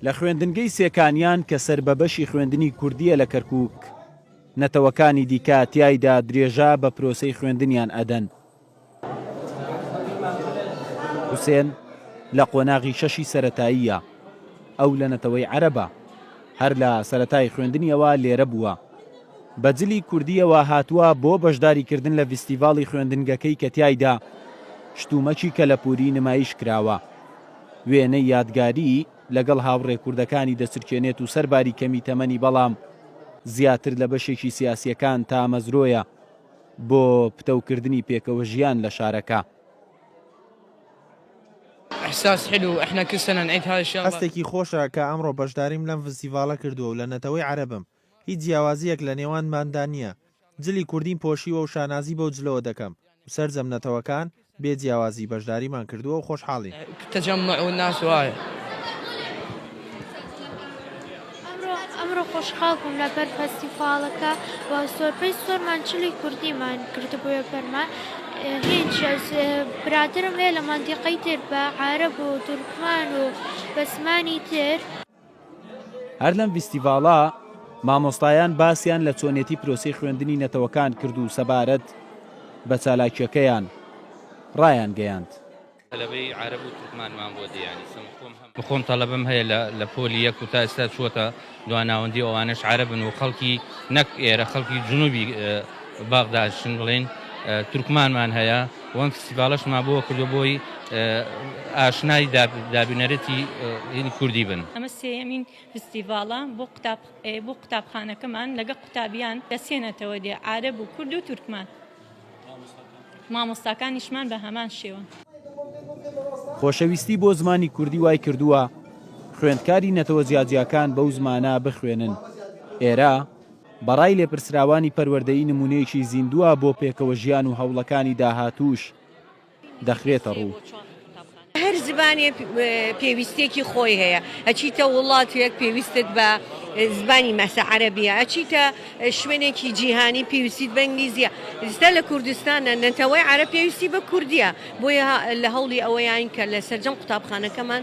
لە خوێندنگەی سێکانیان کە سەر بە بەشی خوێندنی کوردییە لە کەرکووک، نەتەوەکانی دیکە تیایدا درێژە بە پرۆسەی خوێندنیان ئەدەن. حوسێن لە قۆناغی شەشی سەرەتاییە، ئەو لە نەتەوەی عەرەبە، هەر لە سەرەتای خوێندنیەوە لێرە بووە، بە جلی کوردییەوە هاتووە بۆ بەشداریکردن لە ڤیستیڤاڵی خوێندنگەکەی کە تیایدا شتومەکی کەلەپووری نمایش کراوە. وێنەی یادگاریی لەگەڵ هاوڕێ کوردەکانی دەچرکێنێت و سەر باری کەمی تەمەنی بەڵام زیاتر لە بەشێکی سیاسییەکان تامەزرۆیە بۆ پتەوکردنی پێکەوە ژیان لە شارەکە. هەستێکی خۆشە کە ئەمڕۆ بەشداریم لەم ڤستیڤاڵە کردووە و لە نەتەوەی عەرەبم. هیچ جیاوازیەک لە نێوانماندا نیە جلی کوردیم پۆشیوە و شانازی بەو جلەوە دەکەم و سەرجەم نەتەوەکان بێ جیاوازی بەشداریمان کردوە و خۆشحاڵین. ئەمڕۆ خۆشحاڵ بووم لەبەر فەستیڤاڵەکە و زۆربەی زۆرمان جلی کوردیمان کردبوویە بەرمان هیچ برادەرم هەیە لە مەندیقەی تر بە عارەب و تورکمان و بە زمانی تر هەر لەم ڤیستیڤاڵە مامۆستایان باسیان لە چۆنێتی پرۆسەی خوێندنی نەتەوەکان کرد و سەبارەت بە چالاکیەکەیان ڕایانگەیاند. تەلەبەی عارەب و تورکمانمان بۆ دێیانی سم خۆم هەم. خۆم تەڵەبەم هەیە لە لە پۆلی یەک و تا ئێستا چووەتە دوا ناوەندی و ئەوانەش عارەبن و خەڵکی نەک ئێرە خەڵکی جنوبی باغداشن بڵێن تورکمانمان هەیە. وەم فستیڤاڵەش ما بۆ کردوە بۆی ئاشنای دابینەرێتی هینی کوردی بن. ئەمە سێیەمین فستیڤاڵە بۆ قوتاب بۆ قوتابخانەکەمان لەگە قوتابیان دەسێنێتەوە دێ عارەب و کورد و تورکمان مامۆستاکانیشمان بە هەمان شێوە. خۆشەویستی بۆ زمانی کوردی وای کردووە خوێندکاری نەتەوە جیاجیاکان بەو زمانە بخوێنن ئێرە، بە ڕای لێپرسراوانی پەروەردەیی نموونەیەکی زیندووە بۆ پێکەوەژیان و هەوڵەکانی داهاتووش دەخرێتە ڕوو. هەر زمانێک پێویستیەکی خۆی هەیە ئەچیتە وڵاتێک پێویستت بە زمانی مەسە عەرەبیە ئەچیتە شوێنێکی جیهانی پێویستیت بە ئینگلیزیە ئێستا لە کوردستانە نەتەوەی عەرەب پێویستی بە کوردیە بۆیە لە هەوڵی ئەوەیان کە لە سەرجەم قوتابخانەکەمان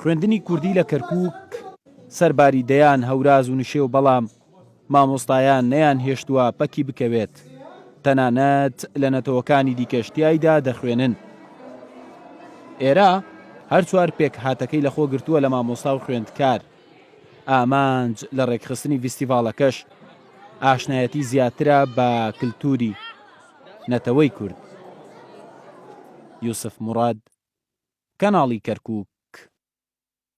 خوێندنی کوردی لە کەرکووک سەرباری دەیان هەوراز و نشێو بەڵام مامۆستایان نەیانهێشتووە پەکی بکەوێت، تەنانەت لە نەتەوەکانی دیکەش تیایدا دەخوێنن. ئێرە هەر چوار پێکهاتەکەی لەخۆگرتووە لە مامۆستا و خوێندکار. ئامانج لە ڕێکخستنی ڤیستیڤاڵەکەش ئاشنایەتی زیاترە بە کلتووری. نەتەوەی کورد. یوسف موراد، کەناڵی کەرکووک.